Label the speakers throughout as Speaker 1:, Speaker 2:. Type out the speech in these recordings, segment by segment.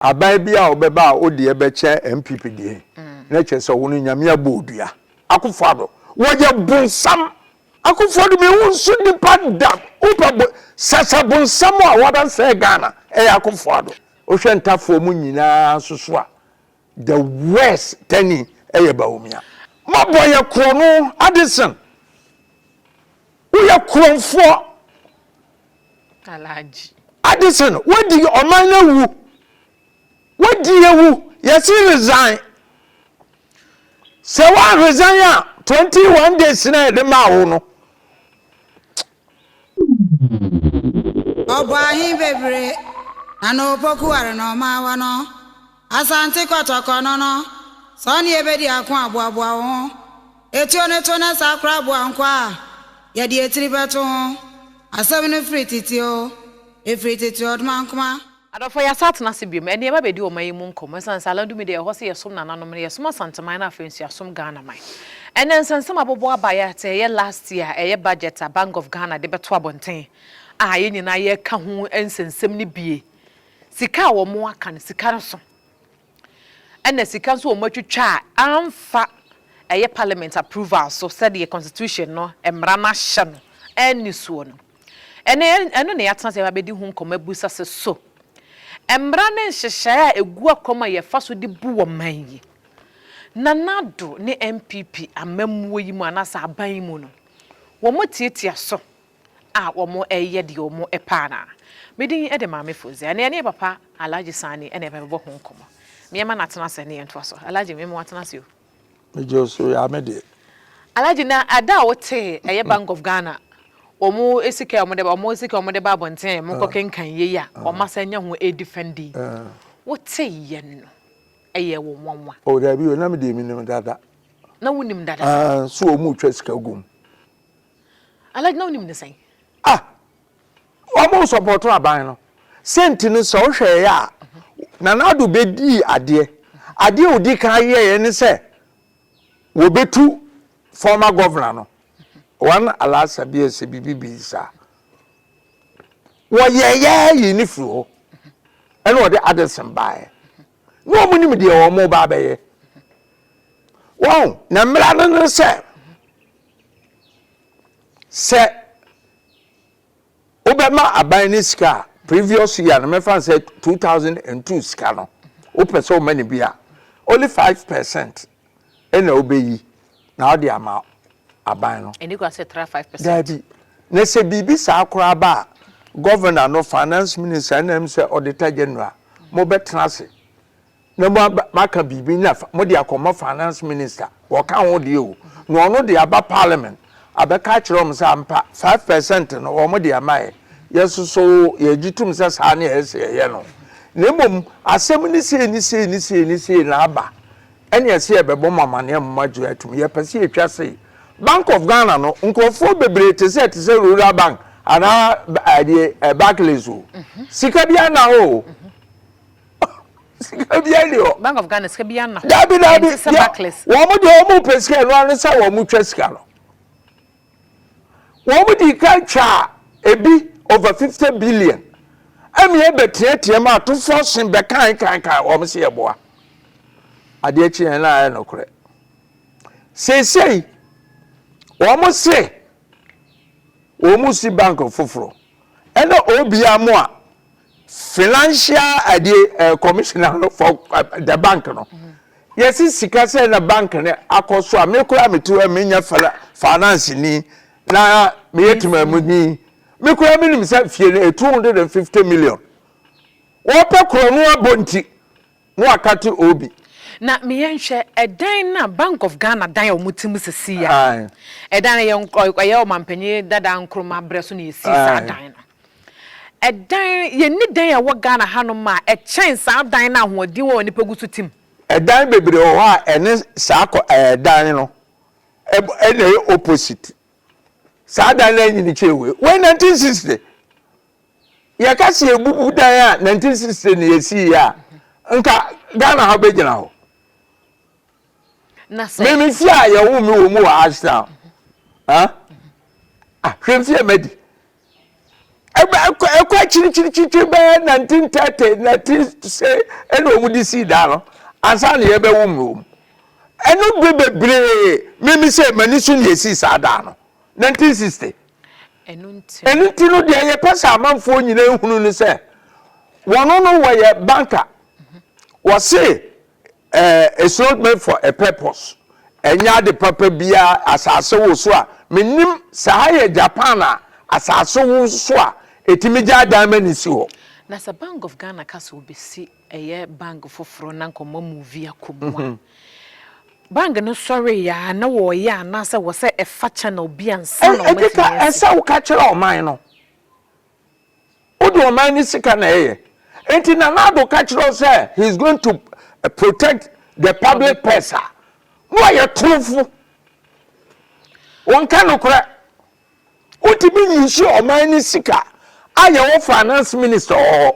Speaker 1: Aban bi a ɔbɛba a odeɛ bɛkyɛ NPP deɛ na kyerɛ sɛ ɔno Nyame abɔ odua. Akufo Addo wɔyɛ bonsam. Akufo Addo me wo nso nipa da wo pɛ bo sasa bonsam a wada sɛɛ Ghana ɛyɛ Akufo Addo wo hwɛ ntafoɔ mu nyinaa nso so a the worst tani ɛyɛ Bawumia. Mo bɔ yɛ korɔno Addison wo yɛ korɔnfoɔ. Alhaji.
Speaker 2: Addison wadi
Speaker 1: ɔman no awu wadi awu yɛsi resign sɛ wa resign a twenty one days na yɛde maa wo no.
Speaker 3: Ɔbɔ ahe bebree na n'opokuware na ɔmaawa no. Asante Kɔtɔkɔ no no, sɛ ɔne yɛ bɛdi ako a, boaboa wo ho. Etuo no to na saa koraa boa nkoa a yɛde etiri bɛto ho. Asɛm no firi tete oo, efiri tete ɔdomankoma. Adɔfoɔ, yɛasan atena
Speaker 2: ase biom. Ɛnnɛ yɛba abɛdi ɔman yi mu nkɔmmɔ. Ɛsiane sɛ Alandumi deɛ ɛhɔ sɛ yɛsom nananom no, yɛsom Asanteman na afei nso yɛasom Ghanaman. Ɛnnɛ nsɛnsɛm abobɔ aba yɛ sɛ ɛyɛ last year a ɛyɛ budget a Bank of Ghana de bɛto abɔnten a yɛn nyinaa yɛreka ho nsɛnsɛm no bie. Sika a wɔn aka no, sika no so. Ɛna sika nso wɔn atwitwa a amfa ɛyɛ parliament approval so sɛdeɛ constitution no mmara no ahyɛ no anni soɔ no. Ɛnɛ ɛno na yɛatena ase abɛdi ho nkɔmmɔ abusa sɛ so mmara ne nhyehyɛeɛ a ɛgu akwan a yɛfa so de bu ɔman yi, Nana Addo ne NPP amammuo yi mu anaasɛ aban yi mu no, wɔtiatia so a wɔyɛ deɛ wɔpɛ anaa? Me din de Maame Fozia, na yɛne papa Alhaji Sani na yɛbɛbɔ ho nkɔmmɔ. Meɛma no atena ase na yɛntoa so. Alhaji, meɛma watena ase o. Megye wo so,
Speaker 1: yaa me deɛ. Alhaji, na
Speaker 2: da a wotee ɛyɛ Bank of Ghana, wɔn sika a wɔde ba, wɔn sika a wɔde ba abɔnten a monkɔ kenkan yei a, wɔn asan anya ho ɛdifɛndi. Woteeɛ no, ɛyɛɛ wo nwanwa? O daabi o, na me deɛ
Speaker 1: menim dada. Na wonim
Speaker 2: dada? Aah, so wɔn retwa sika
Speaker 1: gu mu.
Speaker 2: Alhaji na wonim ne sɛn? Ah! Wɔn
Speaker 1: nsɔpɔɔto aban no. Sɛnti no sɛ wohwɛeɛ a, Nana Addo bɛdii adeɛ. Adeɛ a ɔdi kan yɛeɛ ne sɛ wɔbɛtu former governor no, wɔn Alasa bi ɛsɛ biribi bi saa. Wɔyɛeɛ yii no firi hɔ. Ɛna wɔde Addison baeɛ. Na wɔn nim deɛ wɔn reba abɛyɛ. Wɔn, na mmara no ne sɛ sɛ wobɛma aban no sika a previous year no mɛfa no sɛ 2002 sika no wopɛ sɛ woma no bi a only 5 percent ɛna wobɛyi na wode ama aban no ɛne kura sɛ tra 5 percent
Speaker 2: daabi na
Speaker 1: sɛ biribi saa koraa ba a governor no finance minister ɛna m sɛ auditor general mobɛtena ase na mo aba maka biribi na mo de akɔma finance minister wɔka ho deɛ o na ɔno de aba parliament abɛka akyerɛ wɔn sɛ ampa five percent no wɔn de ama yɛ yɛ nso so yɛgye tom sɛ saa ne ɛyɛ sɛ yɛyɛ no na mmom asɛm ne sei ne sei ne sei ne sei na aba ɛne ɛsɛ yɛbɛbɔ mo amaneɛ mo agye atum yɛpɛ sɛ yɛtwa sei bank of ghana no nkurɔfoɔ bebree te sɛ te sɛ rural bank anaa ɛdeɛ barclays o sika biara na hɔ o sika bi ani hɔ. bank of ghana sika bi ana
Speaker 2: hɔ. daabi daabi ɛnti sɛ
Speaker 1: backless. wɔn
Speaker 2: mo deɛ wɔn
Speaker 1: pɛ sika ɛnu ano sɛ wɔn mo twa sika no wɔn mo di kan twa ebi over fifty billion ɛmi ɛbɛ teɛteɛ mu atofoɔ sin bɛ kan kan kan wɔn si ɛboa adeɛ kyi yɛn na ayɛ no korɛ seesei wɔn mo se wɔn mo si bank foforɔ ɛna obi amoa. Financial ɛdeɛ ɛɛ commissioner no for the bank no yɛsi sika sɛ na bank no akɔ so a me koraa me ti hɔ me nyɛ fina finance ni na me yɛ temamu ni me koraa me nim sɛ fie no two hundred and fifty million wɔpɛ korɔ no abɔ nti no akate obi. Na me yɛ
Speaker 2: nhwɛ ɛdan na bank of Ghana dan a wɔn ti mu sisi ya ɛdan no yɛ ɔyɛ ɔmanpanyin dada Nkrumah brɛ so na yɛsi saa dan no. Ɛdan, Yɛnni dan a ɛwɔ Ghana hanom a ɛkyɛn saa dan no ahoɔden wɔ hɔ a nnipa gu so te mu. Ɛdan bebree wɔ
Speaker 1: hɔ a ɛne saa kɔ ɛɛ dan no ɛb na ɛyɛ opposite. Saa dan no ara nyini kyɛɛ wei. Wei nineteen sixty. Yɛka sɛ yɛbubu dan a nineteen sixty na yɛsiiɛ a, nka Ghana ha bɛgyina hɔ.
Speaker 2: Na sɛ. Me me fie a yɛwoo me
Speaker 1: wɔ mu wɔ Ashtown. Ah, ah hwɛ mfie a madi. ɛkɔ akyirikyirikyiri bɛyɛ 1930 19 se ɛna wɔn de sii dan no ansa na yɛbɛwo mu wɔm ɛno bere bebree mímí sɛ mani so na yɛsii saa dan no 1960 ɛno nti no deɛ yɛpɛ sɛ amanfoɔ nyinaa hunu no sɛ wɔn no wɔyɛ banka wɔse Ɛɛ, it's not made for a purpose, ɛnyɛ ade papa biara, asase wo so a, mennim, sɛ ha yɛ Japan a, asase wo so a, ɛtumi gyae dan ma no si hɔ. Na sɛ Bank of
Speaker 2: Ghana ka sɛ ɔbɛsi ɛyɛ bank foforɔ na nka ɔma movie akɔ mu a, bank no sɔreeɛ a na wɔreyɛ anaasɛ wɔ sɛ ɛfa channel bi ansa na wɔatumi asi? Ɛkeka, ɛsɛ woka
Speaker 1: kyerɛ ɔman no. Wode ɔman no sika na ɛyɛ. Nti Nana Addo ka kyerɛ wo sɛ he is going to eh, protect the public purse a, na ɔyɛ torofo. Wɔnka nokorɛ. Wotumi nyusi ɔman no sika a yɛwɔ finance minister wɔ hɔ.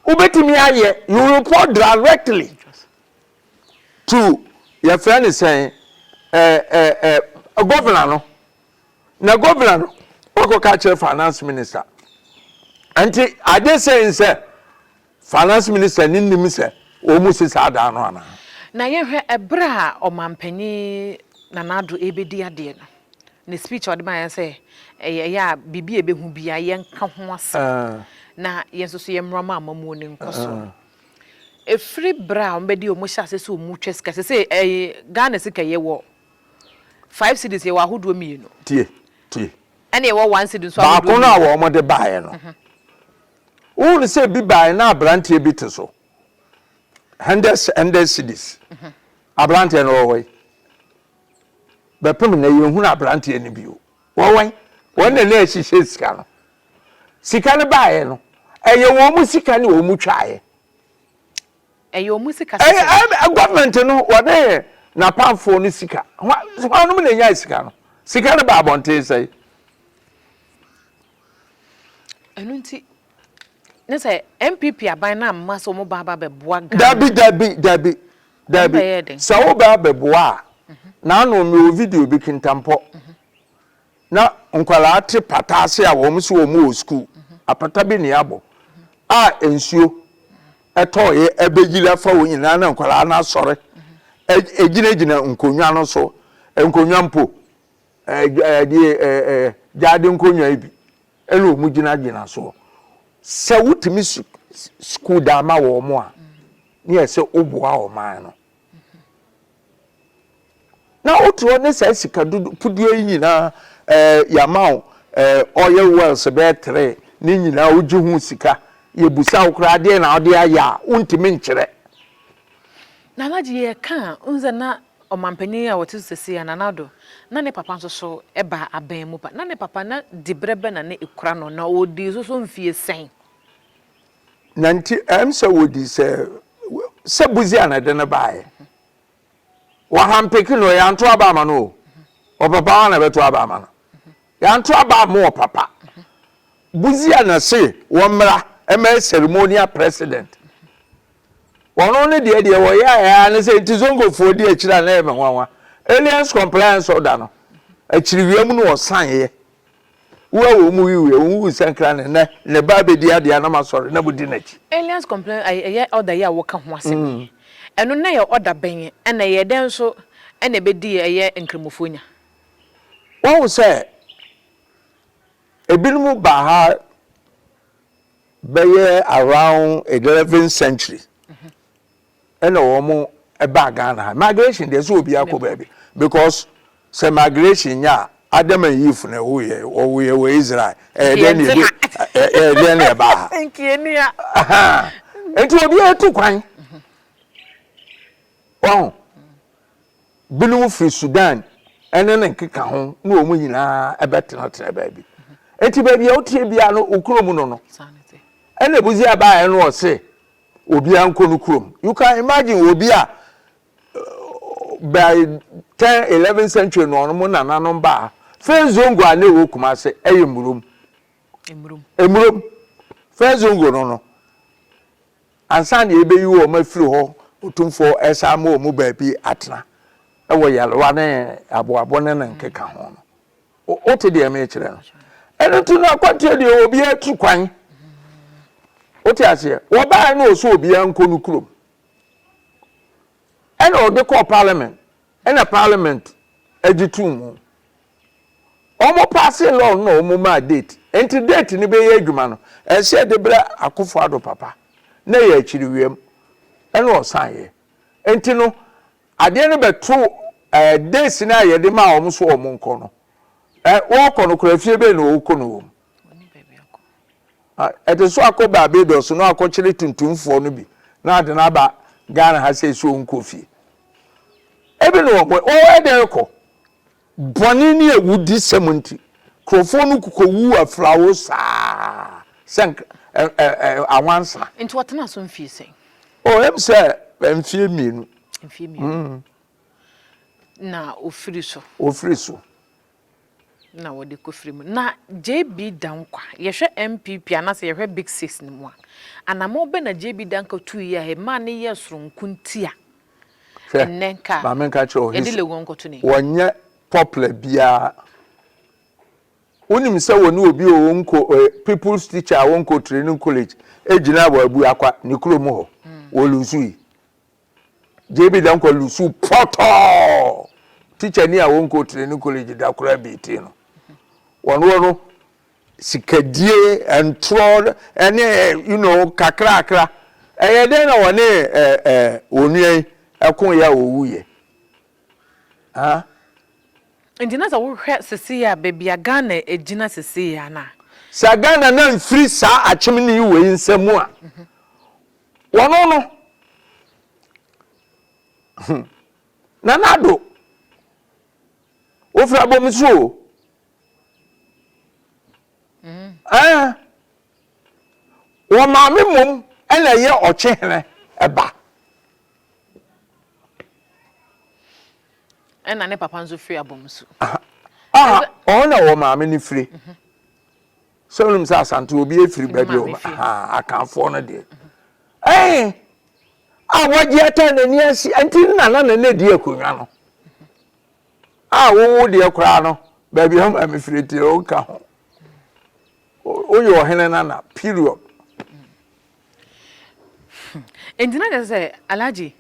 Speaker 1: Wobɛtumi ayɛ, you report directly to yɛfrɛ no sɛn eh, eh, eh, governor no. na governor no wakɔ ka kyerɛ finance minister nti ade sɛ n sɛ finance minister ne nim sɛ wɔn mu si saa dan no anaa. Na yɛhwɛ
Speaker 2: ɛberɛ a ɔmanpanin Nana Addo ɛrebɛdi adeɛ no ne speech a ɔde baeɛ sɛ ɛyɛ ɛyɛ a biribi a ɛbɛhu biara yɛnka ho asɛm na yɛn nso so yɛmmra ma amamuo no nkɔsoɔ no ɛfiri berɛ a wɔbɛdi wɔn hyɛ ase sɛ wɔn retwa sika sɛ sɛ ɛyɛ Ghana sika yɛwɔ Five cedis yɛwɔ ahodoɔ mmienu. Tie, tie.
Speaker 1: Ɛna
Speaker 2: yɛwɔ one cedi nso ahodoɔ mmienu. Baako no a wɔde
Speaker 1: baeɛ no, wohunu sɛ ebi baeɛ na aberanteɛ bi te so. Hundred hundred cedis. Aberanteɛ no wɔwɔ yi. Bɛpem na yɛhunu aberanteɛ no bio. Wɔwɔ yi. Wɔn na na ɛhyehyɛ sika no. Sika no baeɛ no, ɛyɛ wɔn sika na wɔn twaeɛ.
Speaker 2: Ɛyɛ ɔmo sika sɛ sɛ. Ɛyɛ government
Speaker 1: no wɔde napamfoɔ no sika hwannom na ɛnyae sika no sika no baa abɔnten sɛn. Ɛno
Speaker 2: nti ne sɛ NPP aban no amma sɛ ɔmo ba aba bɛboa Ghana. Dabi dabi dabi
Speaker 1: dabi sɛ wo bɛ abɛboa a na ano mewɔ video bi kintampɔ na nkwadaa te pata ase a wɔn sɛ wɔn wɔ sukuu. Apata bi na yɛabɔ a nsuo tɔɔeɛ abɛyiri afa wɔn nyinaa na nkwadaa no asɔre gyinagyina nkonnwa no so. Nkonnwa mpo, deɛ gyaade nkonnwa yi bi ɛna wɔn gyinagyina soɔ. Sɛ wotumi sukuu dan ma wɔn a, ne yɛ sɛ woboa ɔman no. Na wote hɔ ne saa sika dodopudeɛ yi nyinaa ɛɛ yɛama wo ɛɛ oil wells bɛyɛ tere ne nyinaa wogye ho sika yɛbusa wo koraa adeɛ na wode ayɛ a wontumi nkyerɛ.
Speaker 2: Na alagye yɛka a wohu sɛ na ɔmanpanin a ɔte so seesei a Nana Addo na ne papa nso so ba aban mu pa na ne papa na diberɛ bɛn na na ɛkura no na ɔdii so so mfie sɛn?
Speaker 1: Na nti ɛm sɛ wɔdi sɛ sɛ buzi a na ɛde no baeɛ wɔhampeke no yɛanto aba ama no o ɔpapa wa na ɛbɛto aba ama no yɛanto aba ama ɔpapa buzi a na se wɔmmra ɛma ceremonial president wɔno ne deɛ deɛ wɔyɛ ayɛ ne sɛ nti zongofoɔ di akyiri a na ɛmɛ nwanwa aliens compliance order no akyiri wia mu no wɔsaneɛ Wo a wɔn mu wiwui a wɔn wu sankran no, nnɛ ne ba abedi ade a na moasɔre na mudi n'akyi. Aliens complain ai
Speaker 2: ɛyɛ order yi a woka ho asɛm yi ɛno na ɛyɛ order bɛn ɛna ɛyɛ dɛn nso ɛna ɛbɛdi ɛyɛ nkramofoɔ nya.
Speaker 1: Wahu sɛ ebinom baa ha bɛyɛ around eleven century ɛna wɔn ɛbaa Ghana ha migration deɛ sɛ obiara kɔ baabi because sɛ migration nya a Adam and Eve na ɛwɔ yɛ wɔwɔ yɛ wɔ Israel ɛyɛ dɛn na ɛde ɛyɛ dɛn na ɛbaa ha nkienia nti obiara tu kwan wɔn binom firi Sudan ɛne ne nkeka ho na wɔn nyinaa ɛbɛtenatena baabi nti baabi a wotie biara no okuro mu no no ɛna ebuzi abaa ɛno ɔse. obiara nkɔ no kurom you can imagine obi a by ten eleven century na ɔno mo nananom baa first zongo a na ɛwɔ kumase ɛyɛ murom emurom first zongo no no ansa na ebeyi wɔn afiri hɔ otumfoɔ ɛsan mo wɔn baabi atena ɛwɔ yalewa ne aboabo ne ne nkeka ho no. Wote deɛ mekyerɛ no? Ɛno nti no akwantuo deɛ ɛwɔ obiara tiri kwan. Wote aseɛ? Wɔbaeɛ no ɔsɛ obiara nkɔ no kurom. Ɛna ɔde kɔɔ parliament. Ɛna parliament agye tuu mu. Wɔn paase law no na wɔn maa date. Nti date no bɛyɛ adwuma no, ɛsɛ yɛde brɛ Akufo-Addo papa na yɛ akyiri wiem. Ɛna ɔsan yɛ. Nti no, Adeɛ no bɛto ɛɛ days no a yɛde maa wɔn so wɔn nkɔ no. Ɛ wɔrekɔ no koraa fie bɛn na wɔrekɔ no wɔm? Ɛde so akɔ Barbados na wakɔkyere tuntumfoɔ no bi na ade no aba Ghana ha sɛ ɛsɛ wɔn kɔ fie. Ebi na wɔn wɔyɛ dɛn rekɔ? Bɔne ne awudisɛm nti, nkurɔfoɔ no kɔwuu afirawo saa sɛ awansa. Nti ɔtenaa so
Speaker 2: mfie sɛn? Oh, ɛm sɛ
Speaker 1: mfie mmienu. Mfie mmienu. Mm.
Speaker 2: Na ɔfiri so. Ɔfiri so. Na wɔde kɔfiri mu. Na JB Dankwa, yɛhwɛ NPP anaasɛ yɛhwɛ Big Six no mu a, anammɔn bɛn na JB Dankwa tuiɛ a ɛmaa no yɛɛ sononko nti a Hwɛ, maame nka kyerɛ
Speaker 1: ɔhesi, wɔnyɛ
Speaker 2: popular
Speaker 1: biara. Wonim sɛ wɔne obi a ɔnkɔ people's teacher a ɔnkɔ training college gyina wɔ abu akwa ne kurom hɔ wɔ lusu yi. JB Dankwa lusu pɔtɔɔ teacher ni a ɔnkɔ training college da koraa bi ti no. Wɔn wɔ no Sikadie, ntorɔ ne you know kakrakra. Ɛyɛ dɛn na wɔne onua yi ɛko yɛ a owu yɛ? Huh?
Speaker 2: Nti na sɛ wohwɛ sesei a baabi a Ghana agyina sesei a na. Sɛ Ghana na
Speaker 1: nfiri saa akyemnee wei nsa mu a, wɔno no, Nana Addo, wofiri abɔmiso o, Ɛɛ, wɔn maame mmom na ɛyɛ ɔkyehene ba.
Speaker 2: Ɛna ne papa nso firi abɔmsu. Ah,
Speaker 1: ɔno na wɔn maame no firi. Mhm. Sɛ wɔn sɛ asante obi efiri baabi wɔn ah akanfoɔ no deɛ. Mhm. Ɛɛ, a wɔgye ata n'ani ase nti nana na na edi akonnwa no. A wo wo deɛ koraa no baabi a maame firi deɛ ɔnka ho woyɛ ɔhene nana period.
Speaker 2: nti na kyerɛ sɛ alagye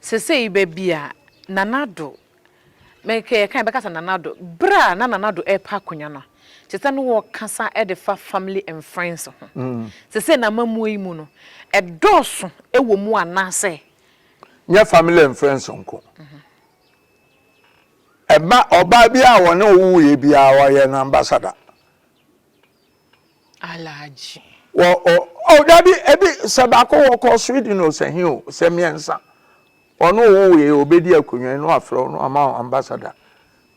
Speaker 2: sesei baabi a nanado mekɛyɛ kan bɛka sɛ nanado berɛ a na nanado ɛrepa akonnwa no te sɛ no wɔkasa de fa family and friends ho mm. sesei na amamuo yi mu no ɛdɔɔso wɔ mu anaasɛ nyɛ
Speaker 1: family and friends nko mm -hmm. Ɛba ɔbaa bi a wɔne wo wuiɛ bi a ɔyɛ no ambassador.
Speaker 2: Alhaji. Wɔ o
Speaker 1: o dabi ebi sɛ baako wɔkɔ Sweden o sɛ he o sɛ mmiɛnsa ɔno wo wuiɛ obedi akonnwa yi na wafrɛ wo na wama wo ambassador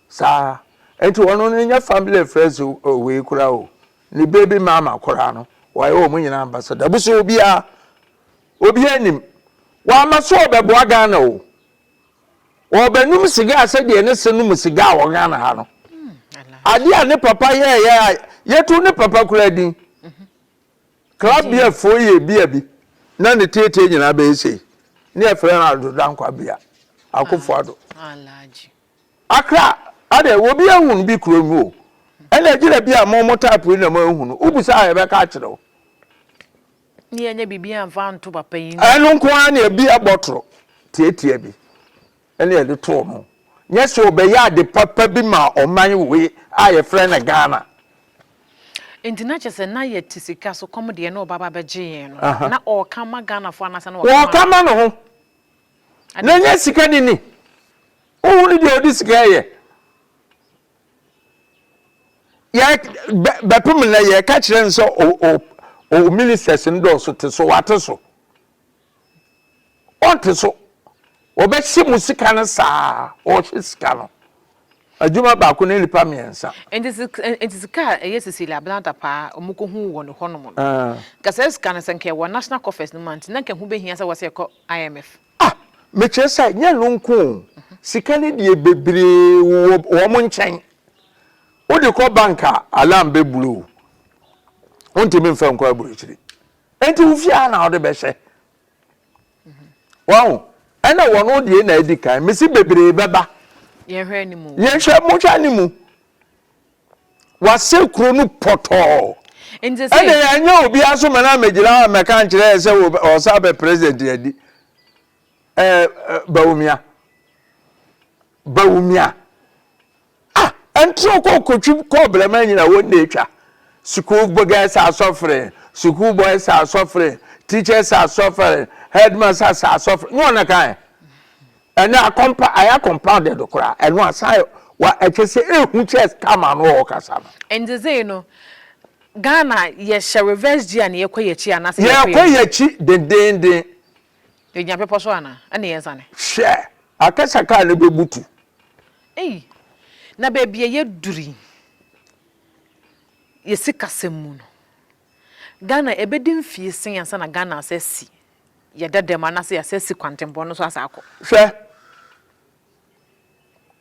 Speaker 1: saa nti ɔno no nyɛ family friends wei koraa o ne baby mama koraa no wɔayɛ wɔn nyinaa ambassador busu obiara obiara nim wɔama so ɔbɛboa Ghana o Wɔbɛnom siga sɛdeɛ ɛne sɛ nom siga wɔ Ghana ha no. Adeɛ a ne papa yɛɛyɛ a yɛtu ne papa koraa din. Club beer foɔ yɛ bia bi na ne tietie nyinaa bɛyɛ sei. Ne yɛfrɛ no Ado Dankwa bea. Akofo Ado.
Speaker 2: Akra
Speaker 1: adeɛ obi ahunu bi kuro no o. Ɛna agyina bi a mo mo type yi na mo ahunu. Wobisa a yɛbɛka akyerɛ wo.
Speaker 2: Ne yɛnyɛ biribi amfa anto papayi no. Ɛno nko ara na ebia
Speaker 1: bɔtoro tiatia bi na yɛde too no. Nyɛ sɛ ɔbɛyɛ ade papa bi maa ɔman wei a yɛfrɛ no Ghana.
Speaker 2: Enti na kyerɛ sɛ na yɛte sika so kɔm deɛ na ɔba ba bɛgye yɛn no. Na ɔɔka ma Ghanafoɔ anaasɛ na ɔɔka ma. Ɔɔka ma ne ho.
Speaker 1: Na nyɛ sika ne ni. Wohunu deɛ ɔde sika yɛ. yɛ bɛpem nnɛ yɛka kyerɛ no sɛ o ministers no dɔɔso te so wate so ɔnte so wɔbɛhye mu sika no saa ɔhye sika no adwuma baako ne nipa mmiɛnsa. nti sika
Speaker 2: a ɛyɛ Cecilia Ablanta paa wɔn kɔ hu wɔ ne hɔnom no ah. nka saa sika no sɛ nka ɛwɔ national coffers no mu nti na nka ho bɛhia sɛ wɔsɛ ɛkɔ IMF. Ah! Mekyerɛ
Speaker 1: sɛ, nyɛ ɛno nko o, sika no deɛ bebree wowɔ wɔn nkyɛn. Wode kɔ bank a, alarm bɛ blow wo. Wontumi mfa nkɔ aburokyiri. Enti wo fie ara na wode bɛhyɛ. Wahu? Ɛna wɔn deɛ na adi kan. Mesi bebree bɛba. Yɛnhwɛ anim o.
Speaker 2: Yɛnhwɛ,
Speaker 1: monhwɛ anim. Wɔasɛe kuro no pɔtɔɔ. Nti se. Ɛnde
Speaker 2: ɛnyɛ obiara
Speaker 1: so mena megyina hɔ a mɛka nkyerɛ yɛ sɛ ɔsan abɛ president yɛ di. Ɛɛ Bawumia. Bawumia. Ah, ɛntrɔ kɔ kotwi kɔ brɛma nyina wɔn de atwa. School girls are suffering, school boys are suffering, teachers are suffering, headmasters are suffering. Nyɛ wɔn na kan. Ɛnɛ akɔmpa ayɛ compounded koraa, ɛno asan wa ɛkyɛ sɛ ehu kyɛ scammer no a ɔkasa no. Ndzedzee no,
Speaker 2: Ghana yɛhyɛ reverse gear na yɛkɔ yɛkyi anaasɛ yɛkɔ yɛnim? Yɛkɔ yɛkyi
Speaker 1: dendeenden. Yɛgyina
Speaker 2: bepɔ so anaa? Ɛna yɛnsane? Hwɛ! Akɛ
Speaker 1: sɛ kaa no bɛbutu. Ei!
Speaker 2: Na baabi a yɛduru yi, yɛ sikasɛm mu no. Ghana ɛbɛdi mfe asia ansa na Ghana asa asi yɛ dada mu anaasɛ yɛasa asi kwantempɔn no so asa akɔ. Hwɛ,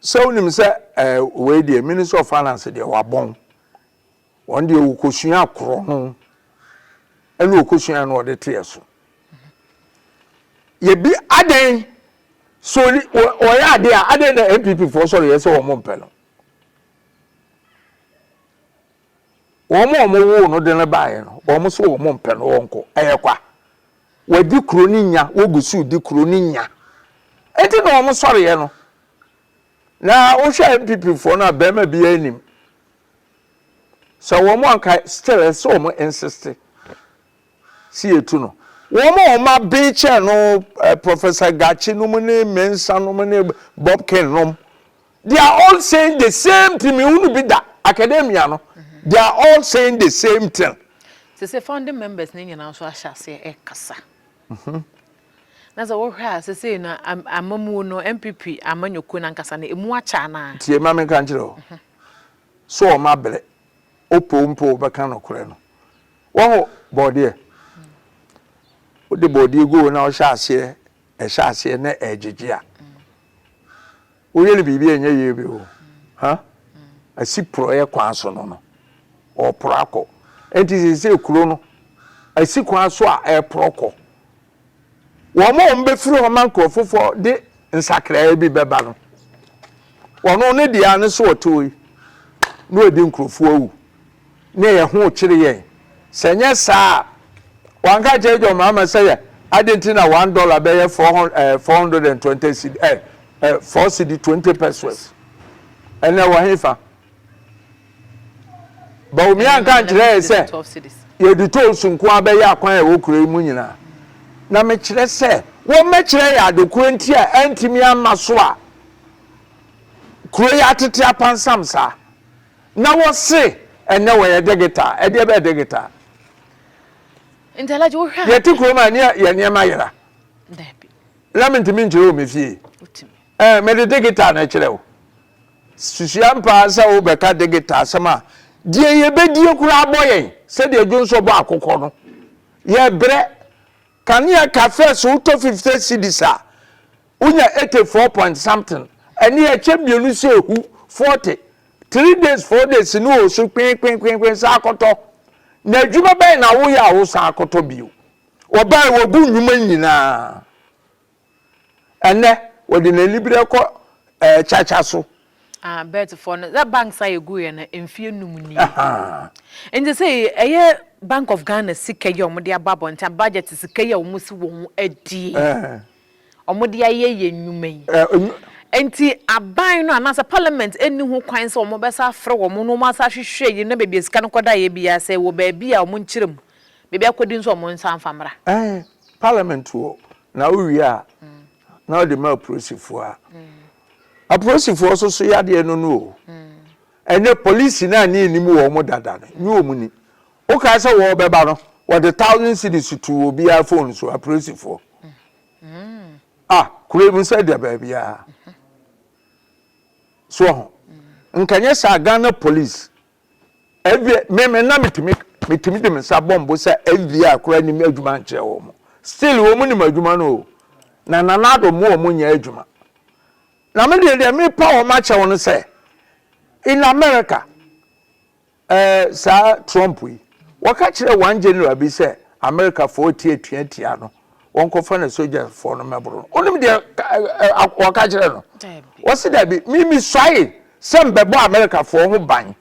Speaker 1: sɛ wonim sɛ ɛɛ wei deɛ Ministry of Finance deɛ wabɔn, wɔn deɛ wɔkɔsuaa korɔno ɛna wɔkɔsuaa na wɔde teɛ so. Yɛbi adɛn so wɔyɛ adeɛ a adɛn na NPP foɔ sɔre yɛ sɛ wɔn mpɛ no. Wɔn a wɔwoo no de no baeɛ no, wɔn nso wɔmpɛ no ɔnkɔ. Ɛyɛ kwa. Wɔadi kuro no nya, wɔgu so redi kuro no nya. Enti na wɔn sɔreɛ no, na wohwɛ NPP foɔ no a, barima biara nim. Sɛ wɔn anka still ɛsɛ sɛ wɔn insiste. si yɛtu no. Wɔn a wɔn aben kyɛn no, Professor Gachi nom ne Mensah nom ne Bobkin nom, they are all saying the same thing, mehunu bi da, academia no, they are all saying the same thing. Sɛ sɛ founding
Speaker 2: members ne nyinaa nso ahyɛ aseɛ ɛkasa. Mhm. Na sɛ wohwɛ a sɛsei no amamuo no MPP amanyɔkuo no ankasa no ɛmu akyɛ anaa? Tie ma menka nkyerɛ o. Mhm.
Speaker 1: So wɔn abrɛ. wopɛ wo mpɛ wo bɛka nokorɛ no wahu bɔɔdeɛ wode bɔɔdeɛ goo na wohyɛ aseɛ ɛhyɛ aseɛ na ɛgyegye a woyɛ no biribi a ɛnyɛ yie bi o ha asi porɔeɛ kwan so no no ɔporɔ akɔ ɛnti sɛ sɛ kuro no asi kwan so a ɛporɔ kɔ wɔn a wɔbɛfiri hɔ na nkuro foforɔ de nsakraeɛ bi bɛba no wɔn ne deɛ ne so ɔtoo yi na wɔdi nkurɔfoɔ awu ne ɛyɛ ho kyere yɛn sɛ nyɛ saa a wanka kyerɛ John Mahama sɛ yɛ adi nti na one dollar bɛyɛ four hundred eh, four hundred and twenty cedi eh, eh, four cedi twenty pesos ɛnna wɔ hefa. Bawumia nka nkyerɛ yɛn sɛ yɛde tools nko ara bɛyɛ akwan a ɛwɔ kuro yi mu nyinaa. Na mekyerɛ sɛ wɔmmɛkyerɛ yɛn adekorɔ nti a antumi amma so a kuro yi atete apansam saa. Na wɔse ɛnɛ wɔyɛ digital, ɛdeɛ bɛyɛ digital?
Speaker 2: Yɛte kurom a ne yɛ
Speaker 1: nneɛma yera.
Speaker 2: Na mentumi
Speaker 1: nkyerɛ wɔ me fie. Mede digital na ɛkyerɛ wo. Susua mpo ara sɛ wobɛka digital asɛm a, deɛ yɛbɛdie koraa bɔ yɛn, sɛdeɛ Dwonsɔ bɔ akokɔ no. Yɛbrɛ. Kanea cafes wotɔ 50 cedis a, wonya 80 four point something. Ɛnneɛ ɛkyɛ mmienu sɛ ɛhu, 40. Three days, four days no wɔ so kwenkwenkwenkwen san kɔtɔ. Na adwuma bɛn na woyɛ a wosan akɔtɔ bio? Wɔbaeɛ wɔgu nnwuma nyinaa. Ɛnnɛ, wɔde n'aniberɛ kɔ kyakya so. Ah, Bertfoɔ
Speaker 2: no, that banks a yɛguiɛ no mfeɛ num nie. Nti sei ɛyɛ Bank of Ghana sika yi a wɔde abɔ abɔnten a, budget sika yi a wɔn si wɔn adie, wɔn de ayɛ yɛn nnwuma yi. Nti aban no anaasɛ parliament nni ho kwan sɛ wɔn bɛsa afrɛ wɔn na wɔn asa ahwehwɛ yi na baabi a sika no kɔdaeɛ biara sɛ ɛwɔ baabi a wɔn nkyerɛ mu, baabi akɔdi nso wɔn nsa mfa mmra. Ɛɛ, parliament
Speaker 1: wɔ Na wowie a, na ɔde ma apolisifoɔ a apolisifoɔ nso so yɛ adeɛ no no o. Ɛnɛ polisi no a ne yɛnim wɔn dada no, nye wɔn ni. Wokae sɛ wɔrebɛba no, wɔde thousand cedis too obiara phone so, apolisifoɔ. Ah, kuro yi mu sɛ da baabiara. So ho. Nka nyɛ saa Ghana police Ɛdeɛ me me na metumi metumi de me nsa bɔ mbo sɛ FBI koraa nim adwuma nkyerɛ wɔn. Still wɔn nim adwuma no o. Na Nana Addo mu wɔn nyɛ adwuma. Na me deɛ deɛ mepa wɔn akyɛ wɔn no sɛ in America ɛɛ eh, saa Trump yi wɔka kyerɛ one general bi sɛ Americafoɔ ti atua tia no. wɔnkɔfa no sogyafoɔ no mmɛboro no wonim deɛ wɔka kyerɛ no wɔse dabi memesuae sɛ mbɛbɔ amerikafoɔ ho ban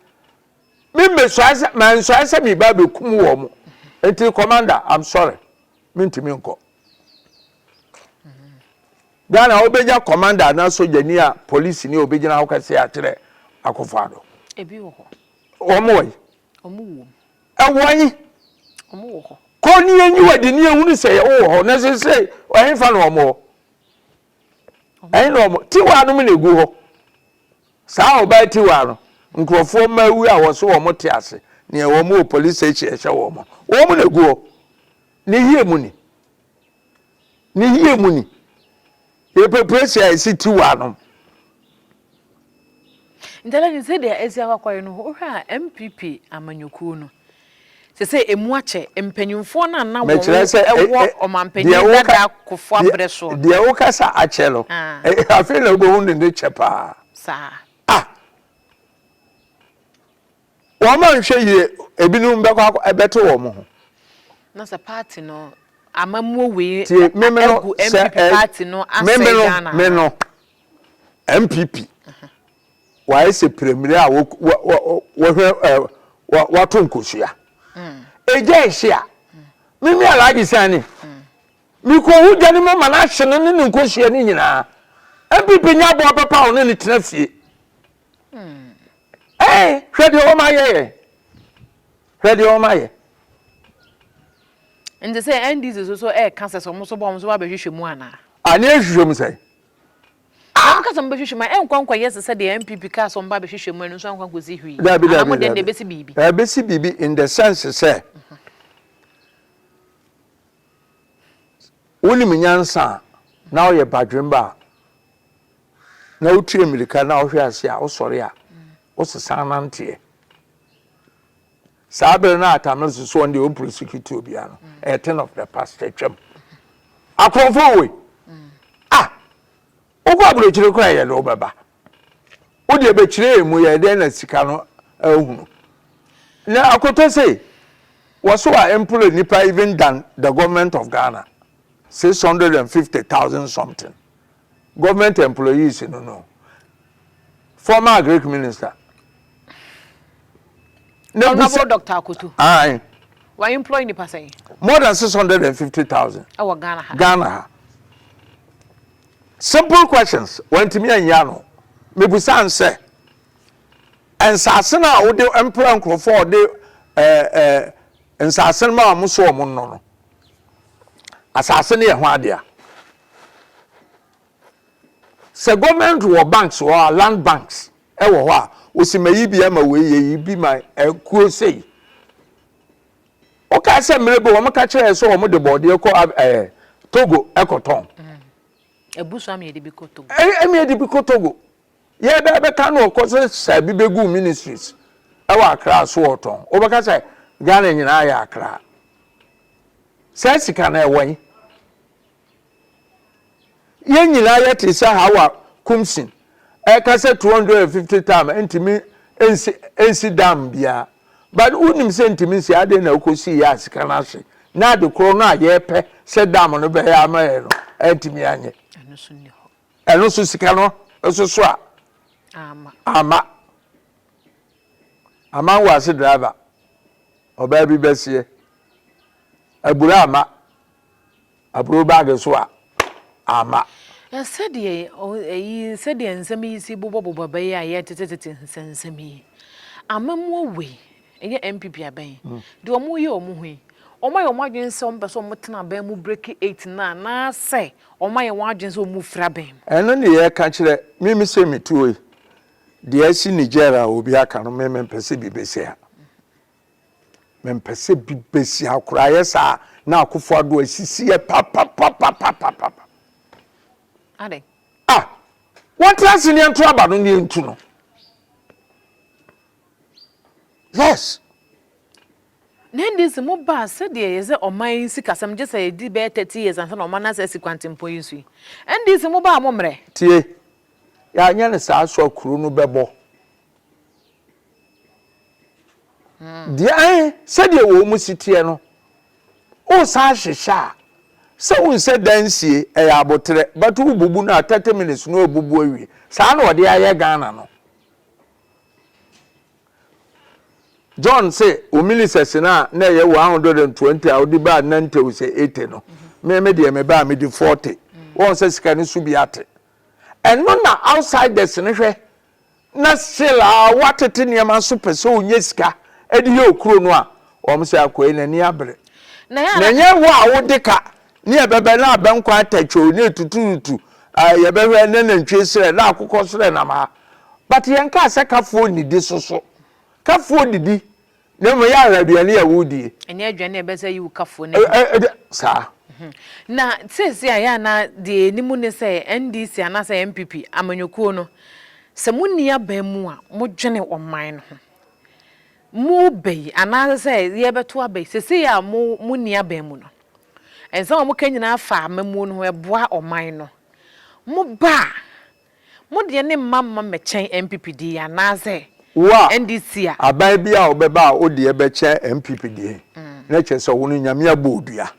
Speaker 1: memmesuae sɛ mansuae sɛ meba bɛkum wɔ mo nti commander i'm sorry mentumi nkɔ ghana wobɛnya commander anaa sogyani a polisi ni a obɛgyina hɔ kɛseɛ akyerɛ akɔfa do
Speaker 2: wɔn wɔ yi Ɛwɔ he?
Speaker 1: Wɔn
Speaker 2: wɔ hɔ. Kɔ ne yɛnyi wɔ de ne
Speaker 1: yɛhunu sɛ yɛwɔ wɔ hɔ na sesei ɛhefa na wɔn wɔ? Ɛhe na wɔn? Tiwa nom na egu hɔ. Saa ɔbaa tiwa no nkurɔfoɔ mma awu a wɔso wɔn te ase neɛ wɔn wɔ police station ɛhyɛ wɔn. Wɔn na egu hɔ. Ne yie mu ni. Ne yie mu ni. Yɛpɛ pressure a ɛsi ti wɔ anom.
Speaker 2: Ntalani sɛdeɛ asi akɔakɔyɛ no wohwɛ a NPP amanyɔkuo no sɛsɛ ɛmu akyɛ mpanyinfoɔ no a na wɔn wɔ ɔmanpanyin dada kofo abrɛ soɔ no. Deɛ wokasa
Speaker 1: akyɛ no afei na wobɛhu ne ne kyɛ paa. Saa. Ah. Wɔanhwɛ yie ebinom bɛkɔ akɔ bɛto wɔn ho. Na sɛ
Speaker 2: party no amammuo wei agu NPP
Speaker 1: party
Speaker 2: no asɛe Ghana anaa? Me no,
Speaker 1: NPP wayɛ sɛ premmire a wɔhwɛ wɔato nkosua. Egya ehye a, me me Alhaji Sani, mekɔhu gya no mu ma no ahye no ne ne nkosua no nyinaa. NPP nyɛ aboa papa a ɔne no tena fie. ɛɛ hmm. hwɛ deɛ wɔn ayɛ yɛ hwɛ deɛ wɔn ayɛ.
Speaker 2: nti sɛ ndc so so ɛɛka sɛ sɛ wɔn so bɔ wɔn so ba bɛhwehwɛ mu ana. ani ehwehwɛ mu sɛ. wɔn kasa wɔn bɛhwehwɛ mu a ɛnkɔ nkɔ yɛ sɛ deɛ npp kaa sɛ wɔn ba bɛhwehwɛ mu ɛno nso ankɔ nkɔ si hwii. dabi dabi dabi ɛna ɛbɛsi
Speaker 1: biribi.
Speaker 2: ɛbɛsi biribi in the
Speaker 1: sense sɛ. wonim nyansa a na ɔyɛ badwemba a. na wotu mmirika na wohwe ase a wosɔre a wosesan nanteɛ saa bere no a tamil so so ɔnde ɔmprosecute obiara no a thing of the past atwam akorɔmfo woi ah wokɔ aburokyire kora yɛ de wobɛba wodeɛ bɛkyerɛ mu yɛ dɛn na sika no ahunu na akɔtɔ sei wɔso a employ nipa even than the government of ghana 650,000 something Government employees no no former agric minister. Honourable
Speaker 2: Doctor Akoto. Aye. Wa employ nipa sɛn? More than six hundred
Speaker 1: and fifty thousand. Ɛwɔ Ghana ha. Ghana ha. Simple questions wantumi anyɛ ano. Mebusa n sɛ nsaase no a wode mpra nkurɔfoɔ a wɔde eh, eh, nsaase no ma wɔn so wɔn nnɔ no asaase no yɛ ho adea Sɛ government wɔ banks wɔ hɔ a, land banks wɔ hɔ a, wɔsi mayi bi ama wei, yɛyi bi ma akuo sei. Wokaa sɛ mmerɛ bi wɔn ka kyerɛɛ sɛ wɔn de bɔɔdeɛ kɔ ɛɛ Togo ɛkɔtɔn.
Speaker 2: Abusua mi yɛde bi kɔ Togo. Ɛmi yɛde bi kɔ Togo.
Speaker 1: Yɛ bɛ bɛka no ɔkɔ sɛ saa bi bɛgu ministries ɛwɔ akra so ɔtɔn. Wobɛka sɛ Ghana nyinaa yɛ akra. Saa sika no ɛwɔ yi. Yɛn nyinaa yɛte sɛ Hawa Kumsin ɛka sɛ 250 tam ntumi nsi nsi dam biara but wonim sɛ ntumi nsi adɛn na wokɔsii yɛ a sika no ahye na ade korɔ no a yɛpɛ sɛ dam no bɛyɛ ama yɛ no antumi anyɛ ɛno so sika no nso so a ama ama wɔ ase driver ɔbaa bi bɛseɛ abura ama Aburow bag so a, amma. Na
Speaker 2: sɛdeɛ eyi, sɛdeɛ nsɛm yi si bobɔbobɔ bɛyɛ a ɛyɛ tetetete nsɛnsɛm yi, amammuo wei, ɛnyɛ NPP abɛn, deɛ wɔreyɛ wɔn ho yi, wɔayɛ wɔn adwene sɛ wɔpɛ sɛ wɔtena abɛn mu breki eight no anaasɛ wɔayɛ wɔn adwene sɛ wɔrefiri abɛn mu? Ɛno ne yɛreka
Speaker 1: kyerɛ, me me sɛ metuo yi, deɛ asi Niger a obi aka no me mempɛ sɛ bi bɛsi ha. Mempɛ sɛ bi bɛsi ha koraa, ayɛ saa a na Akufo Addo asisi yɛ papapapapapapa. Adɛn?
Speaker 2: Ah!
Speaker 1: Wɔntra ase ne yɛnto aba no ne yɛntu no. Yes.
Speaker 2: Na ɛnde sɛ mobaa sɛdeɛ yɛ sɛ ɔman yi sikasɛm gye sɛ ɛdi bɛyɛ thirty years ansa na ɔman no asa asi kwantempɔn yi so yi, ɛnde sɛ mobaa a mommrɛ. Tie,
Speaker 1: yɛanyɛ no saa so a kuro no bɛbɔ. Deɛ ahe sɛdeɛ wɔn mu si teɛ no, wosan hyehyɛ a, sɛ wohu sɛ dansie ɛyɛ aboterɛ but wobubu no a, thirty minutes no abubu awie. Saa na wɔde ayɛ Ghana no. John se wo milisɛs no a na ɛyɛ one hundred and twenty a wode baa nna nte wo sɛ eighty no, me me deɛ me baa medi forty. Wɔn sɛ sika no so bi ate. Ɛno na outsiders no hwɛ na still a watete nneɛma nso pɛ sɛ ɔnya sika de yɛ okuro no a, wɔn sɛ akoa yi n'ani abere. Na ɛnyɛ wo a wode ka ne ɛbɛbɛ ne abɛnkwan atɛkyoo ne etuturutu a yɛbɛhwɛ ne nantwie serɛ ne akokɔ serɛ nam ha. But yɛnkaa sɛ kafoɔ nnidi so so. Kafoɔ didi Na mmom yɛ ahwɛ aduane a wodie. Ɛnyɛ aduane a ɛbɛsɛ
Speaker 2: yi wo kafoɔ no bi. Ɛ, ɛ, saa.
Speaker 1: Na
Speaker 2: seesei a yɛ a na deɛ yɛnim ne sɛ NDC anaasɛ NPP, amanyɔkuo no, sɛ monni aban mu a modwene ɔman no ho. Moreba yi anaasɛ sɛ yɛrebɛto aba yi, seesei a mo, monni aban mu no, nsɛm a moka nyinaa fa amammuo no ho, ɛboa ɔman no. Moba a, Mo deɛ ne mma mma mmɛkyɛn NPP deɛ yi anaasɛ Wo a, NDC
Speaker 1: a. aban
Speaker 2: bi a ɔbɛba a
Speaker 1: wo deɛ bɛkyɛn NPP deɛ yi, na kyerɛ sɛ wo no Nyame abɔ wo dua.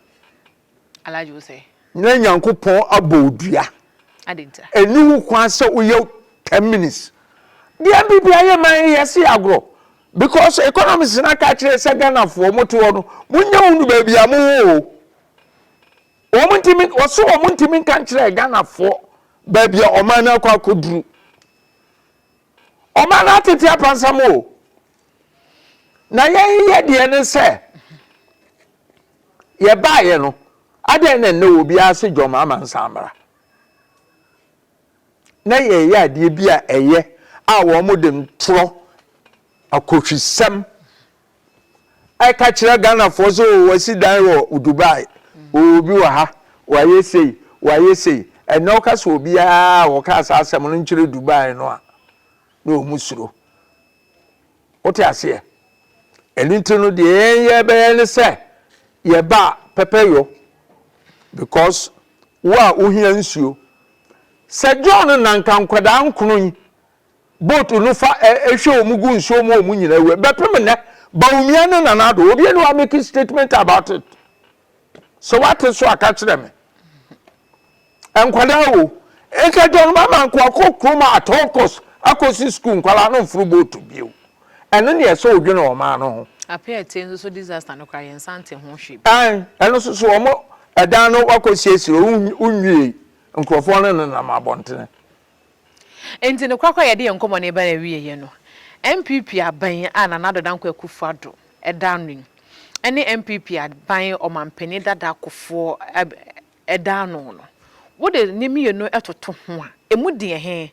Speaker 2: Alhaji wo sɛ. Na Nyankopɔn
Speaker 1: abɔ wo dua. Adɛn nti a.
Speaker 2: Ɛnni ho kwan sɛ
Speaker 1: woyɛ ten minutes. Deɛ NPP ayɛ ma yɛn, yɛse agorɔ. Because economists no aka akyerɛ yɛn sɛ Ghanafoɔ, mote hɔ no, monnya hunu baabi a mowɔ o. Wɔn ntumi wɔso wɔn ntumi nka nkyerɛ Ghanafoɔ baabi a ɔman no akɔ akɔduru. Ɔman no atete apansam o. Na yɛn yɛ deɛ ne sɛ yɛbaeɛ no adɛn na nnɛ wɔ biara se dwom ama nsa mmara. Na yɛyɛ adeɛ bi a ɛyɛ a wɔn de ntorɔ akɔhwisɛm ɛka kyerɛ Ghanafoɔ sɛ oo wasi dan wɔ Dubai, oo obi wɔ ha, wayɛ sei, wayɛ sei. Ɛnnɛ woka sɛ obiara a ɔkaa saa asɛm no nkyerɛ Dubai no a, na wɔn suro. Wote aseɛ? Ɛno nti no deɛ yɛn yɛ bɛyɛ ne sɛ yɛba pɛpɛ yɔ because wo a wohia nsuo. Sɛ John nanka nkwadaa nkono yi boat no fa hwɛ wɔn gu nsuo mu wɔn nyinaa wura bɛpem nnɛ Bawumia ne Nana Addo obi ani wa make statement about it sɛ wate so aka kyerɛ me nkwadaa o nka John Mahama nko akɔ kurom at all cost akɔsi school nkwadaa no mforo boat bio ɛno ne ɛsɛ odwene wɔn maa no ho. Apɛ ɛte nso so
Speaker 2: disaster no kora yɛn nsa nte ho hwee bi. Ɛn ɛno nso so
Speaker 1: wɔn ɛdan no wakɔ siesie onwie nkurɔfoɔ no nenam abɔntene.
Speaker 2: Enti no korakora a yɛde yɛn nkɔmmɔ no reba n'awieeɛ no, NPP aban a Nana Addo Dankwa Akufo-Addo da ano yi ne NPP aban ɔmampanin dada Kufuor da ano no, wode ne mmienu toto ho a, ɛmu deɛn he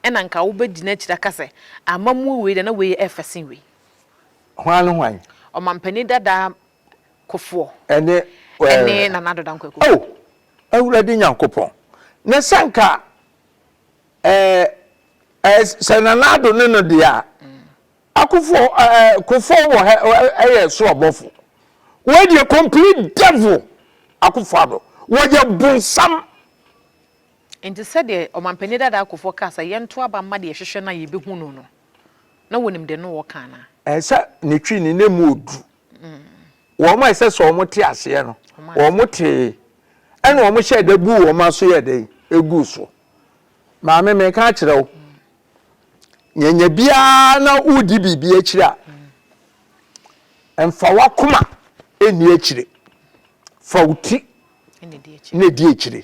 Speaker 2: na anka wobɛgyina akyiri aka sɛ amammuo wei deɛ na wei yɛ fɛ sen wei? Hwan ne
Speaker 1: hwan? Ɔmampanin
Speaker 2: dada Kofoɔ ɛne ɛne
Speaker 1: Nana Ado
Speaker 2: Dankwa Kofoɔ. Oh! Awurade
Speaker 1: Nyankopɔn, na sɛ nka ɛɛ ɛɛ sɛ Nana Ado ne no deɛ a, Akufoɔ ɛɛ Kofoɔ wɔ ha ɛyɛ so ɔbɔfo. Wei deɛ complete devil Akufo Ado, wɔyɛ bonsam.
Speaker 2: Nti sɛdeɛ Ɔmanpanin Dadaa Kofoɔ kaa sɛ yɛnto aba mma deɛ yɛhwehwɛ no a yɛbɛhu no no, na wonim deɛ ne ɔɔka anaa? Ɛɛ sɛ ne twi
Speaker 1: ne na mu oduru. Wɔn a ɛsɛ sɛ wɔn te aseɛ no, wɔn tee, ɛna wɔn hyɛ da buu wɔn aso yɛ dɛ egu so. Maame mi ka kyerɛ wo, nyanya biara na wodi biribi akyire a, mfa wakoma ɛni akyire, fa wo ti na ɛdi akyire.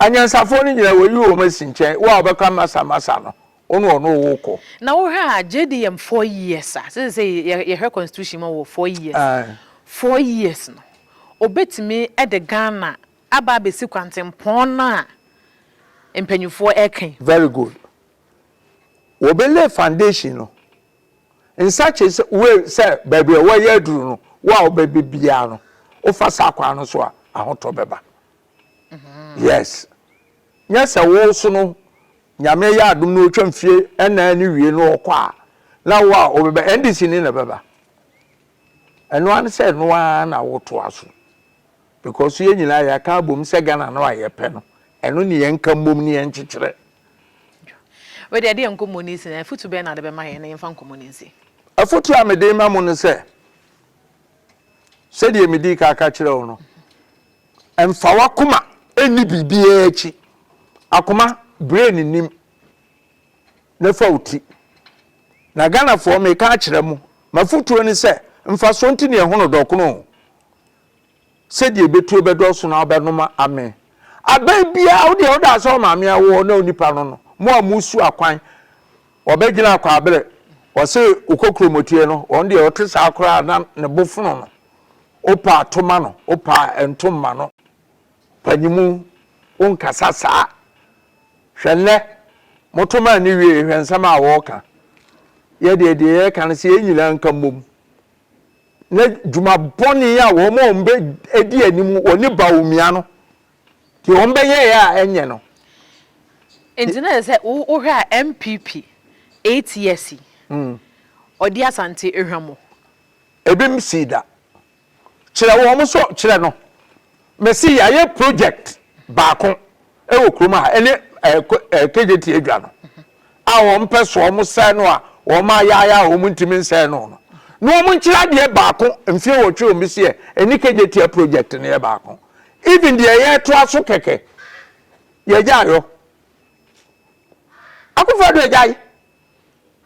Speaker 1: Anyansafoɔ no nyinaa wɔyi wɔn asi nkyɛn, wo a wobɛka Masa, Masa no, wo ne ɔno wo kɔ. Na wohwɛ a
Speaker 2: JDM four years a, sɛ sɛ yɛhwɛ constitution mu a wɔwɔ four years, four years no, ɔbɛtumi de Ghana aba abɛsi kwantempɔn no a mpanyinfoɔ reka yi? Very good.
Speaker 1: Wɔbɛ lay foundation no, nsakye sɛ wei sɛ baabi a wɔayɛ aduru no, wo a wobɛbɛ biara no, wofa saa kwan no so a, ahotɔ bɛba. Yes. Nyɛ sɛ wo nso no, Nyame yɛ adom na otwa mfie nnan no wie na ɔkɔ a, na wo a wobɛba, NDC ni na ɛbɛba. Ɛno ara ne sɛ ɛno ara na wotoa so. Because yɛn nyinaa yɛaka abom sɛ Ghana no a yɛpɛ no, ɛno ne yɛnka mmom na yɛnkyekyerɛ.
Speaker 2: Wei deɛ, ɛde yɛn nkɔmmɔ no asi, na afotu bɛn na wode bɛma yɛn na yɛmfa nkɔmmɔ no nsi? Afotu a mede
Speaker 1: rema mo ne sɛ, sɛdeɛ medii ka ka kyerɛɛ wo no, Mfa w'akoma nni biribiara akyi. Akoma, brain nnim. Na fa wo ti. Na Ghanafoɔ, meka akyerɛ mo, m'afotuo ne sɛ, mfasoɔ nti na yɛhono dɔkono o. Sɛdeɛ ɛbɛtuo bɛdɔɔso no ara wobɛnom ame. Aban biara, wo deɛ wo daa sɛ wo maame awoɔ na wo nipa no no, mo a mosu akwan, wɔbɛdwene akwaabere, wɔse wokɔ kuromotie no, wɔn deɛ wɔte saa koraa na ne bo fono no. Opa to ma no opa nto mma no. Panyinmu wo nkasa saa. Hwɛ nnɛ mo to ma nni wiee hwɛ nsɛm a wɔɔka. Yɛ deɛ deɛ yɛɛka no sɛ yɛn nyinaa nka mmom na dwuma bɔne a wɔn a wɔn bɛ ɛdi anim wɔ ne Bawumia no deɛ wɔn bɛ yɛɛ a ɛnyɛ no.
Speaker 2: Nti na sɛ wo hwɛ a NPP eight years yi ɔdi Asante ehwa mu Ebim
Speaker 1: sii da. Kyerɛ wɔn so kyerɛ no. Mese yɛayɛ project baako wɔ kurom ha ɛne ɛɛ KJT adwa no a wɔn pɛ so wɔn sɛɛ no a wɔn ayaayaa wɔn ntumi nsɛɛ no no na wɔn nkyerɛ adeɛ baako mfie wɔtwe wɔn bi seɛ ɛne KJT project no yɛ baako even deɛ yɛtoa so kɛkɛ yɛgya ayɔ akofo do agyae.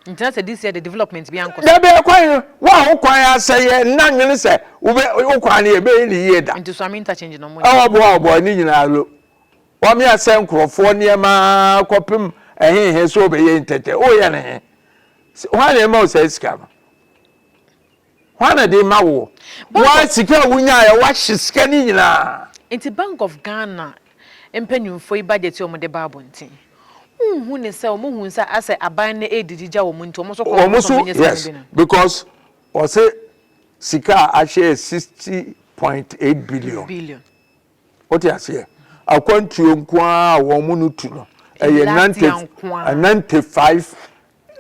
Speaker 1: Ntina
Speaker 2: sɛ this year de development bi ankɔ so. Dabi ɛkwan no, wo
Speaker 1: a wo kwan asɛe yɛ nna nwene sɛ wobɛ wo kwan no yɛbɛyɛ ne yie da. Nti Suame interchange no mo nyɛ.
Speaker 2: Ɔbɔ a ɔbɔ ne nyinaa
Speaker 1: lo. Wame asɛe nkorɔfoɔ nneɛma ara kɔpem ɛhe he sɛ wobɛyɛ interchange. Woyɛ no he? Hwan na ɛma wo saa sika no? Hwan na de ma woɔ? Wo ara sika a wonyaeɛ a woahye sika no nyinaa. Nti Bank of
Speaker 2: Ghana mpanyinfoɔ yi budget yi a wɔde ba abɔnten, wonhu ne sɛ wɔn hu sɛ asɛ aban no redi gyigya wɔn nti wɔn nso kɔn wɔn sɛ wɔn nyɛ sika no bi
Speaker 1: no? Yes, because wɔse sika a ahye yɛ sixty point eight billion. Billion. Wote aseɛ? Akwantuo nko ara a wɔn no tu no ɛyɛ ninety ninety five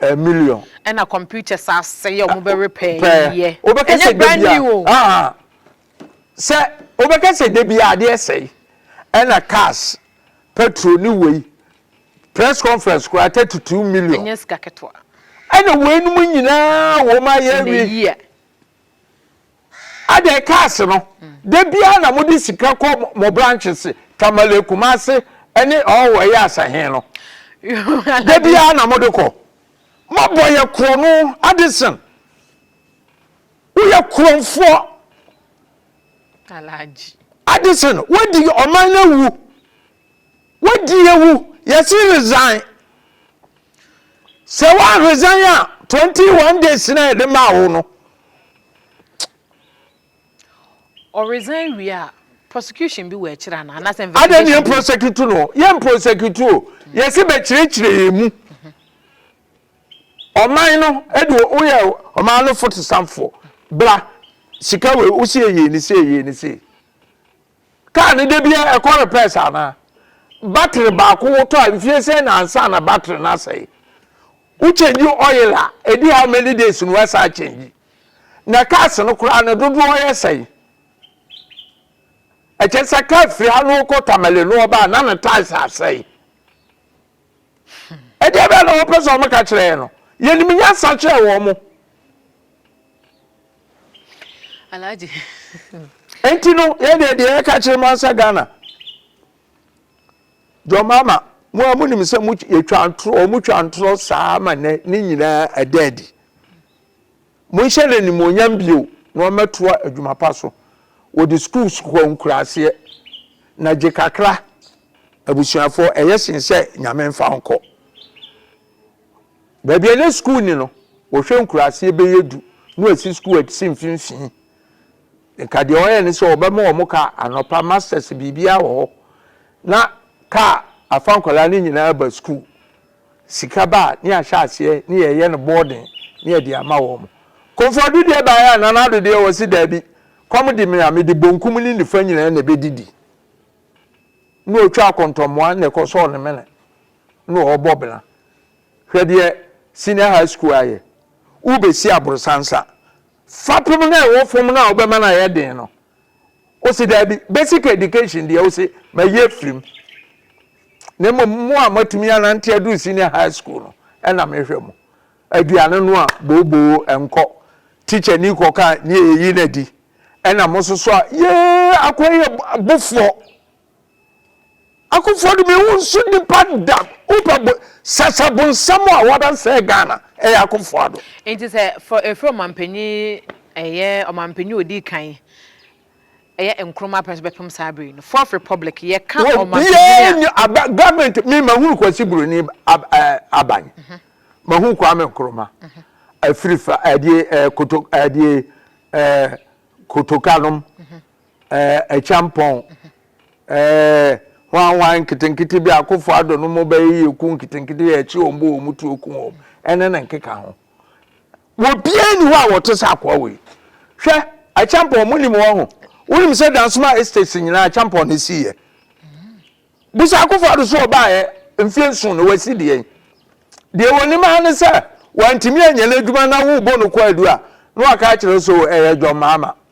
Speaker 1: Eh million. Ɛna computer
Speaker 2: saa sɛyɛ ɔmo bɛ repair yɛ. Ɛnyɛ brand new
Speaker 1: o. Ah ah sɛ wobɛka sɛ da biara adeɛ sɛe ɛna cars petrol ne wei press conference koraa thirty two million. Ɛnyɛ sika ketewa.
Speaker 2: Ɛna weinom
Speaker 1: nyinaa wɔn ayɛ awie. In a year. Adɛn cars no da biara na mo de sika kɔ mo branches Tamale Kumasi ɛne ɔɔ ɛyɛ asahen no da biara na mo de kɔ mo bɔ yɛ korɔ no Addison wo yɛ korɔnfoɔ
Speaker 2: Addison wadi
Speaker 1: ɔman no awu Wadi awu yɛse resign. Sɛ wa resign a 21 days na yɛde maa wo no.
Speaker 2: Ɔ resign wie a prosecution bi wɔ akyire anaa anaasɛ investigation bi. Adɛn ne yɛ prosecute
Speaker 1: no? Yɛ prosecute o. Yɛse bɛkyerɛkyerɛ yɛn mu. Ɔman no ɛde woyɛ ɔman no fotosanfoɔ. Bra sika wei wo se yɛyɛ ni sei yɛyɛ ni sei. Kaa no da biara ɛkɔ repairs anaa? Battery baako wotɔ a mfie sɛn na ansa na battery no asɛe? Wo change oil a ɛdi how many days na woasan change? Na cars no koraa no dodoɔ yɛ sɛn? Ɛkyɛ sɛ car firi ha na wokɔ Tamale na wɔba a na ne tyres asɛe. ɛdeɛ bɛɛ na wɔpɛ sɛ wɔka kyerɛ yɛn no yɛnim nyansa kyerɛ wɔn mo
Speaker 2: alhaji
Speaker 1: nti no yɛn deɛ deɛ yɛka kyerɛ mu ansa ghana jɔmama mo a monim sɛ mo yɛtwa ntorɔ wɔn twa ntorɔ saa ma nɛ ne nyinaa ɛda adi monhyɛ no animuonyam bio na wɔmɛtoa adwuma pa so wɔde schools kɔ nkuraseɛ na gye kakra Abusuafoɔ, ɛyɛ sen sɛ Nyame mfa wo nkɔ baabi a na sukuu nni no. Wɔhwɛ nkuraaseɛ bɛyɛ du na wɔasi sukuu asi mfimfini. Nka deɛ wɔyɛ ne sɛ wɔbɛma wɔn kaa anɔpa, masters biribiara wɔ hɔ, na kaa afa nkwadaa no nyinaa aba sukuu. Sika ba a, na yɛahyɛ aseɛ na yɛyɛ no boarding na yɛde ama wɔn. Komfoɔ Ado deɛ baeɛ a, Nana Ado deɛ ɔse daabi, kɔm de me a, mede bonkum ne nifa nyinaa na ɛbɛdidi. na ɔtwa akɔntɔmmoa na ɛkɔ sɔɔ ne mene na ɔrebɔ bena. Hwɛ deɛ senior high school ayɛ. Wobɛsi aborosan sa. Fapem no a ɛwɔ fam no a wobɛma no ayɛ den no, wo se daabi. Basic education deɛ wo se ma yɛ firim. Na mmom mo a moatumi anante aduru senior high school no ɛna mehwɛ mo. Aduane no a booboo ɛnkɔ. Teacher ni kɔ ka ni eyi na di. Ɛna mo soso a yee akoa yɛ bofoɔ. Akofoɔ de me wo nso nipa da wopɛ bo sasa bonsam a wada sɛɛ Ghana ɛyɛ akofoɔ ado. Nti sɛ for
Speaker 2: efiri ɔmanpanyin ɛyɛ ɔmanpanyin odi kan ɛyɛ Nkrumah pɛ nso bɛpem saa bere yi no fourth republic yɛka ɔmanpanyin a. wɔ biara nyi aba government mi
Speaker 1: ma hu Kwasi Buroni ab ɛɛ eh, aban mhm. ma hu Kwame Nkrumah mhm. afirifa ɛdeɛ eh, ɛɛ eh, koto ɛdeɛ ɛɛ kotokanom mhm. ɛɛ ɛkyampɔn ɛɛ hwanhwan nketenkete bi akofo adɔ no mo bɛyɛ yɛ ku nketenkete yɛ akyi wɔn bɔ wɔn tuo ku wɔn ɛne ne nkeka ho. Obiara nni hɔ a ɔte sɛ akoa wei. Hwɛ, Acheampong, monim wɔn ho? Wonim sɛ Dansoma Estates nyinaa Acheampong na ɛsiiɛ. Busa Akuffo Addo so ɔbaeɛ mfeɛ nson na wasi deɛ yi. Deɛ wɔnim ara ne sɛ wantumi anyɛ n'adwuma na worebɔ no kwaadu a na waka akyerɛ so ɛyɛ John Mahama.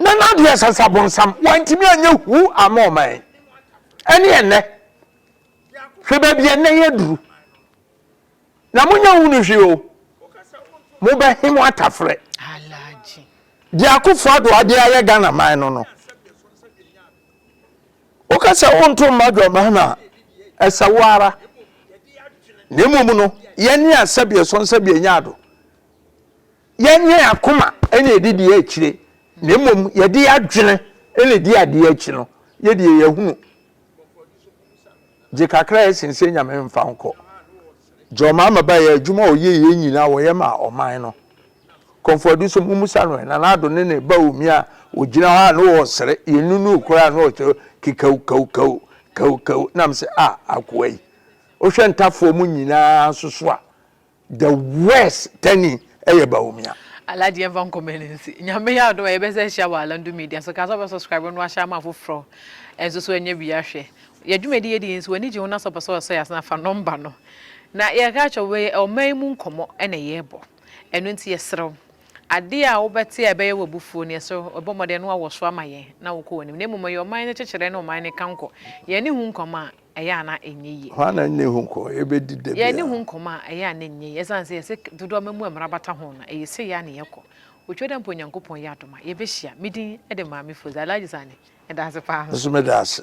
Speaker 1: Na n'adeɛ sɛ sɛ abonsam wantumi anyɛ huu ama ɔman yi. Ɛne ɛnnɛ, hwɛ baabi a ɛnnɛ yɛ duru. Na monyɛ hunu hwee o, mobɛhe mo atafrɛ.
Speaker 2: Deɛ Akufo
Speaker 1: Addo ade ayɛ Ghana man no no, woka sɛ wonto mma adwaman a, ɛsɛ wo ara. Na mmom no, yɛne a sɛbeɛ so nsɛbeɛ nyɛ ado. Yɛnyɛ yɛn akoma na yɛde di akyire, na mmom yɛde yɛn adwene na ɛdi adeɛ akyi no, yɛ deɛ yɛahunu. Gye kakra a ɛsen sɛ Nyame mfa nkɔ. Gye ɔman ma ba yɛ adwuma a ɔyɛ yɛ nyina a ɔyɛ ma ɔman no. Kɔmfoɔde so mo musa no ɛ, Nana Addo ne ne ba Omi a ɔgyina hɔ a na ɔresere, yɛnnunuu koraa a na ɔkyerɛ kekawukawukawu, kawukawu, na mese ah akoa yi, wohwɛ ntafoɔ mu nyina ara nso so a, The worst tani ɛyɛ Bawumia. Alhaji yɛmfa nkɔ
Speaker 2: mani nsi Nyame yɛ adom a yɛbɛsan ahyia wɔ Alandu Media so Ka sɛ wobɛ subscribe no ahyɛ ama afoforɔ nso so ɛnyɛ wia Hwɛ yɛn dwumadi yɛdi yi nso w'ani gye ho na sɛ wopɛ sɛ wɔsɔ yɛn ase no a fa nɔmba no na yɛka akyerɛ wo Wei yɛ ɔman yi mu nkɔmmɔ na yɛrebɔ ɛno nti yɛsrɛ wo adeɛ a wobɛte a ɛbɛyɛ wo abufuo no yɛsrɛ wo bɔ mmɔden na woawɔ so ama yɛn na wokɔ w'anim na mmom yɛ ɔman no kyekyerɛ ne ɔman no kankɔ Yɛn ani hu nkɔmmɔ a ɛyɛ a na ɛnyɛ yie. Hwan na ɛne ho nkɔmmɔ
Speaker 1: yɛbɛdi da biara? Yɛne ho nkɔmmɔ a, ɛyɛ
Speaker 2: a na ɛnyɛ yie. Ɛsiane sɛ yɛsɛ dodoɔ ma mu a mmara bata ho no, ɛyɛ sei ara na yɛkɔ. Otwa da mpo Onyankopɔn yɛ adom a, yɛbɛhyia. Me din de Maame
Speaker 1: Foze.
Speaker 2: Alhaji Sani,
Speaker 1: meda
Speaker 2: ase paa. Me nso meda
Speaker 1: ase.